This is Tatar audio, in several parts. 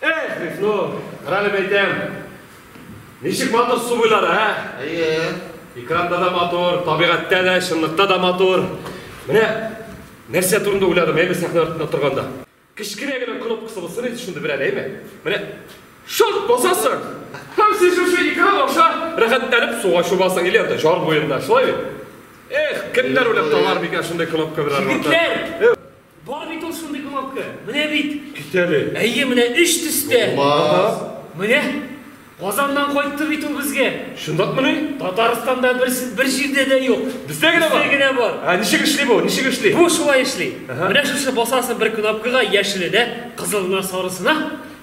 Эх, Мифно, рәлеп әйтәм. Ничек матур су буйлары, ә? Әйе. Экранда да матур, табигатьтә дә, чынлыкта да матур. Менә нәрсә турында уйладым, әйме сәхнә артында торганда. Кечкенә генә кнопкасы булсын иде шундый берәр, әйме? Менә шарт басасың. Һәм син шушы экран аша рәхәтләнеп суга чубасың или анда җар буенда, шулай бит? Эх, кемнәр уйлап табар микән шундый кнопка белән? Егетләр! Бар бит ул шундый кнопка. Менә бит. Кисәле. Әйе, менә өч төстә. Булмас. Менә Казаннан кайтты бит ул безгә. Шундакмыни? Татарстанда бер бер җирдә дә юк. Бездә генә бар. Бездә генә бар. А ничек эшли бу? Ничек эшли? Бу шулай эшли. Менә шушы басасы бер кнопкага яшеле дә, кызылына, сарысына.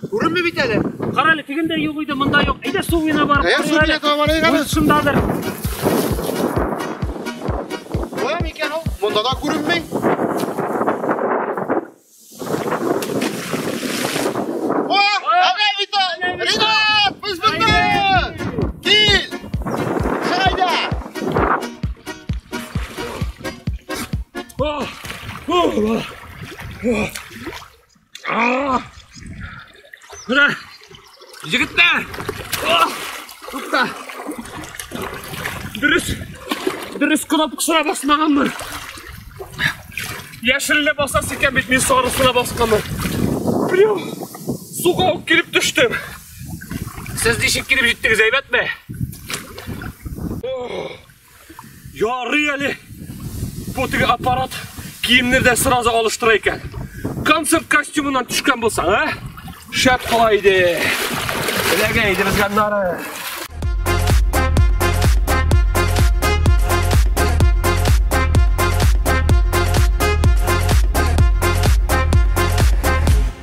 Күренми бит әле. Кара әле, тегендә юк иде, монда юк. Әйдә су буена барып Әйе, су буена таба барыйк әле. Шундадыр. Кая микән ул? Монда да күренми. Oh, oh, oh. А! Менә! Егетләр! А! Тукта! Дөрес! Дөрес кнопкасына басмаганмын. Яшелне басасы икән бит мин сарысына басканмын. Прям суга ук килеп төштем. Сез ничек килеп җиттегез, әйбәтме? Ярый әле бу теге аппарат киемнәр дә сразу алыштыра икән. Концерт костюмыннан төшкән булсаң, а? Шәп кала иде. Эләгә иде безгә нары.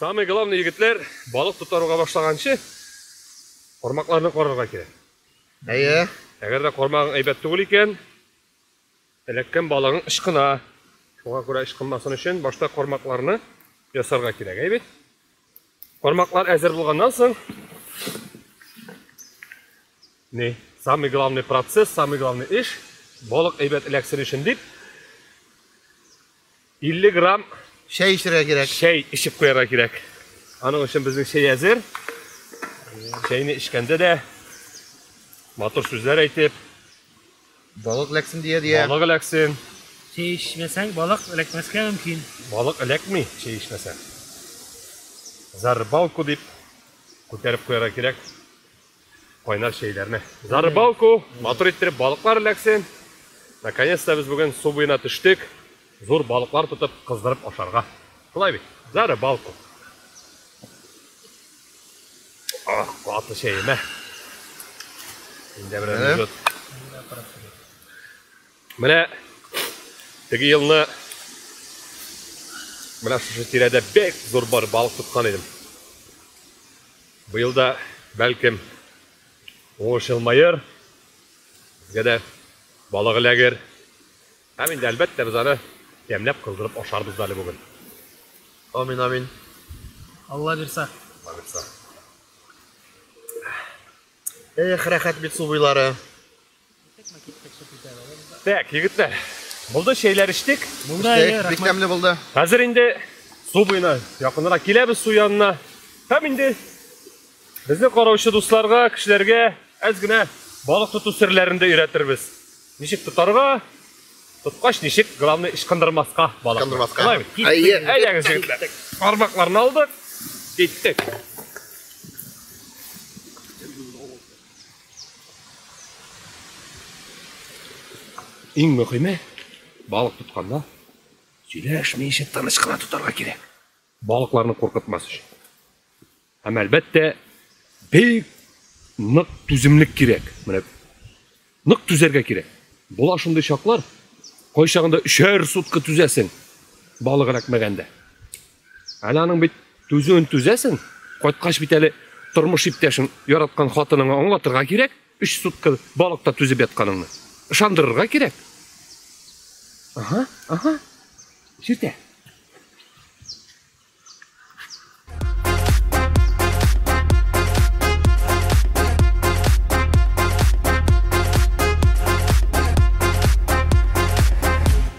Самый главный егетләр балык тотаруга башлаганчы кармакларны карарга кирәк. Әйе. Әгәр дә кармагың әйбәт түгел икән, Эләккән балыгың ычкына. Шуңа күрә ычкынмасын өчен башта кармакларны ясарга кирәк, әй бит? Кармаклар әзер булганнан соң, не, самый главный процесс, самый главный эш, балык әйбәт эләксен өчен дип, 50 грамм чәй эчәргә кирәк. Чәй эчеп куярга кирәк. Аның өчен безнең чәй әзер. Чәйне эчкәндә дә матур сүзләр әйтеп, балык эләксен дия дия. Балык эләксен. Чәй эчмәсәң, балык эләкмәскә мөмкин. Балык эләкми, чәй эчмәсәң. За рыбалку дип күтәреп куярга кирәк. Кайнар чәйләрне. За рыбалку, матур иттереп балыклар эләксен. Наконец-то без бүген су буена төштек. Зур балыклар тотып, кыздырып ашарга. Шулай бит? За рыбалку. Ах, каты чәемә. Инде берәр минут. Менә теге елны менә шушы тирәдә бик зур бар балык тоткан идем. Быел да бәлкем уңыш елмаер. Безгә дә балык эләгер. Һәм инде әлбәттә без аны тәмләп кыздырып ашарбыз да әле бүген. Амин, амин. Алла бирса. Алла бирса. Эх, рәхәт бит су буйлары. Так, егетләр, булды чәйләр эчтек. Булды, әйе, бик тәмле булды. Хәзер инде су буена якынрак киләбез су янына. Һәм инде безне караучы дусларга, кешеләргә әз генә балык тоту серләрен дә өйрәтербез. Ничек тотарга, тоткач ничек, главное, ычкындырмаска балык. Ычкындырмаска. Әйе. Әйдәгез, егетләр. Бармакларны алдык. Киттек. Иң мөһиме, балык тотканда сөйләшмичә тыныч кына тотарга кирәк. Балыкларны куркытмас өчен. Һәм әлбәттә, бик нык түземлек кирәк. Менә нык түзәргә кирәк. Була шундый чаклар, кайчагында өчәр сутка түзәсең, балык эләкмәгәндә. Әле аның бит түзүен түзәсең, кайткач бит әле тормыш иптәшең, яраткан хатыныңа аңлатырга кирәк, өч сутка балыкта түзеп ятканыңны. Ышандырырга кирәк. Ага, ага. Сүтә.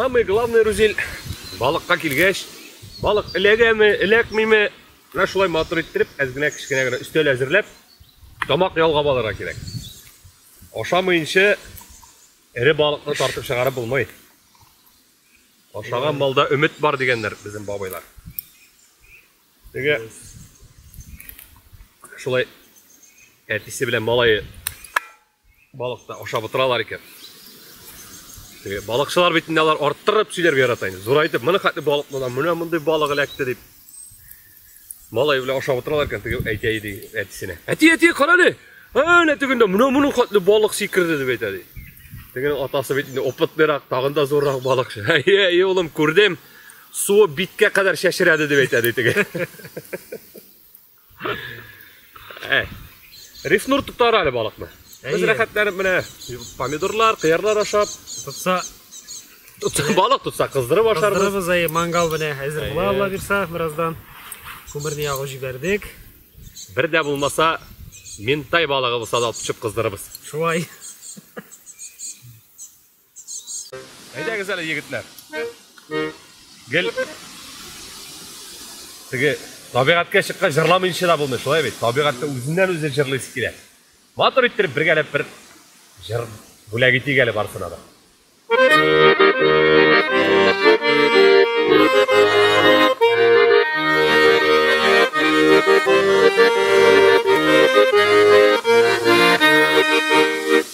Самый главный рузель балыкка килгәч, балык эләгәме, эләкмиме, менә шулай матур иттереп, әз генә кечкенә генә өстәл әзерләп, тамак ялгап алырга кирәк. Ашамыйнча Эре балыкны тартып чыгарып булмый. Ашаган балда өмет бар дигәннәр безнең бабайлар. Теге шулай әтисе белән малайы балыкны ашап утыралар икән. Теге балыкчылар бит инде алар арттырып сөйләргә ярата инде. Зурайтып, моны хәтле балык монда, менә мондый балык эләкте дип. Малай белән ашап утыралар икән, теге әйтә иде әтисенә. Әти, әти, кара әле. Әнә тегендә менә моның хәтле балык сикерде дип әйтә ди. Тегенең атасы бит инде опытныйрак, тагын да зуррак балыкчы. Әйе, әйе, улым, күрдем. Суы биткә кадәр чәчрәде дип әйтә ди теге. Әй. Рифнур тотар әле балыкны. Без рәхәтләнеп менә помидорлар, кыярлар ашап, тотса балык тотса кыздырып ашарбыз. Кыздырыбыз әй мангал менә әзер була Алла бирсә бераздан. Күмерне ягып җибәрдек. Бер дә булмаса ментай балыгы булса да тотып кыздырыбыз. Шулай. Әйдәгез әле, егетләр. Гел теге табигатькә чыккан җырламыйча да булмый, шулай бит. Табигатьтә үзеннән үзе җырлыйсы килә. Матур иттереп бергәләп бер җыр бүләк итик әле барсына да.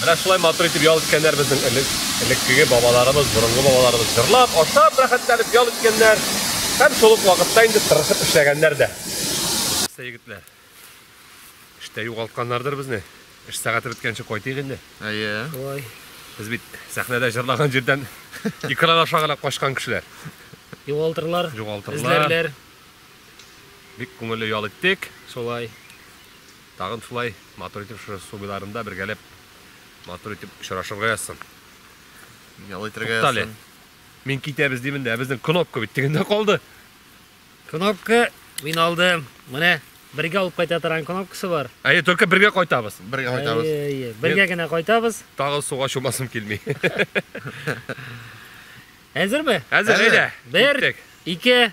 Менә шулай матур итеп ял иткәннәр безнең элек, элеккеге бабаларыбыз, борынгы бабаларыбыз. Җырлап, ашап, рәхәтләнеп ял иткәннәр. Һәм шул ук вакытта инде тырышып эшләгәннәр дә. Нәрсә, егетләр? Эштә югалтканнардыр безне. Эш сәгате беткәнче кайтыйк инде. Әйе. Ой. Без бит сәхнәдә җырлаган җирдән экран аша гына качкан кешеләр. Югалтырлар, Югалтырлар. эзләрләр. Бик күңелле ял иттек. Шулай. Тагын шулай матур итеп шушы су буйларында бергәләп матур итеп очрашырга язсын. Ял итәргә язсын. Туктале. Мин китәбез димен дә, безнең кнопка бит тегендә калды. Кнопка мин алдым. Менә бергә алып кайта торган кнопкасы бар. Әйе, только бергә кайтабыз. Бергә кайтабыз. Әйе, бергә генә кайтабыз. Тагы суга чумасым килми. Әзерме? Әзер, әйдә. Бер, ике,